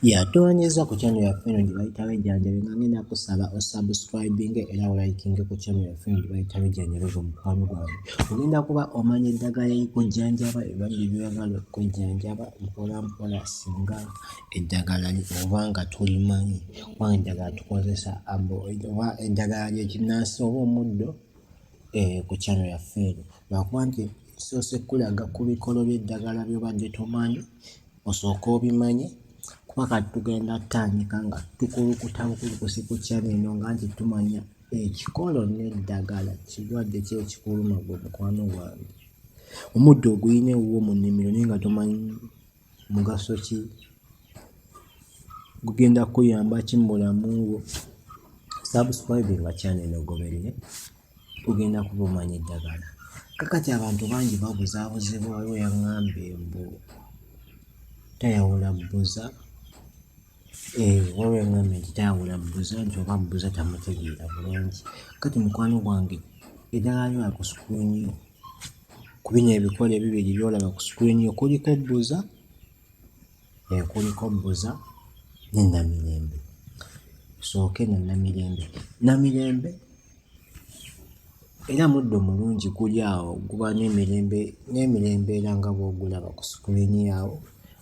Yeah, tuwanyiza ku channel ya eno gye bayita Wejjanjabe nga ngenda kusaba osubscribinge era olayikinge ku channel ya eno gye bayita Wejjanjabe gwe mukwano gwange. Ogenda kuba omanya eddagala erikujjanjaba ebali byebagala okujjanjaba mpola mpola singa eddagala oba nga tulimanyi oba eddagala tukozesa oba eddagala lyekinnansi oba omuddo eh, ku channel ya eno lwakuba nti soose kulaga ku bikolo by'eddagala byobadde tomanyi osooke obimanye kuba kati tugenda tandika nga tukulukuta bukulukusi ku channel eno nga nti tumanya ekikolo n'eddagala kirwadde ki ekikuluma gwe mukwano gwange omuddo oguyina ewuwo mu nnimiro naye nga tomanyi mugaso ki gugenda kuyamba ki mu bulamu bwo subscribinga channel eno ogoberere tugenda kubumanya eddagala kakati abantu bangi babuzabuzibwa waliwo yaŋŋambye mbu tayawula bbuza eh, waliwo yaŋŋambye nti tayawula bbuza nti oba bbuza tamutegeera bulungi kati mukwano gwange eddagala lyola ku sukuliini yo ku bino ebikola ebibiri byolaba ku sukuliini yo kuliko bbuza eyo kuliko bbuza ne namirembe sooke no namirembe namirembe era muddo mulungi guli awo guba nemirembe nemirembe era nga bwogulaba ku sukulini awo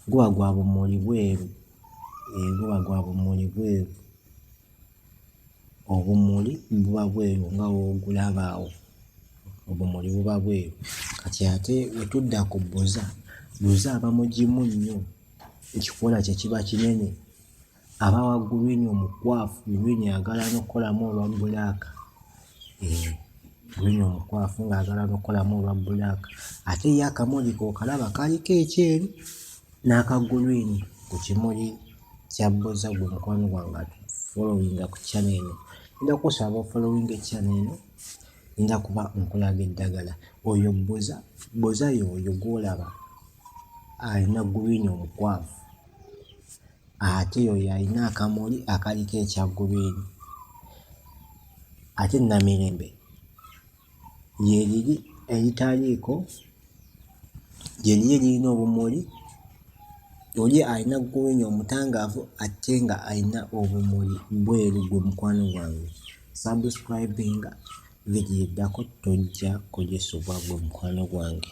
guba gwa bumuli bweru eh, guba gwa bumuli bweru obumuli buba bweru nga w'ogulaba awo, obumuli buba bweru. Kati ate bwe tudda ku bbuza, bbuza aba mugimu nnyo, ekikoola kye kiba kinene, aba wa gguliini omukwafu, gguliini ayagala n'okukolamu olwa bbulaaka. eh, green omukwafu ng'agala nokukolamu olwa black ate ye akamuli kokalaba kaliko ekyeru n'aka green ku kimuli kya bboza gwe mukwano gwange atufolowinga ku channel eno nja kusaba ofolowinga echannel eno nja kuba nkulaga eddagala oyo bboza bboza yoyo gwolaba alina green omukwafu ate oyo alina akamuli akaliko ekya guliini ate Namirembe lyeriri eritaliiko lyeriri eririna obumuli oli alina guliini omutangaavu ate nga alina obumuli bweru gwe mukwano gwange sabusikurayibinga vidiyo eddako tojja kugisubwa gwe mukwano gwange.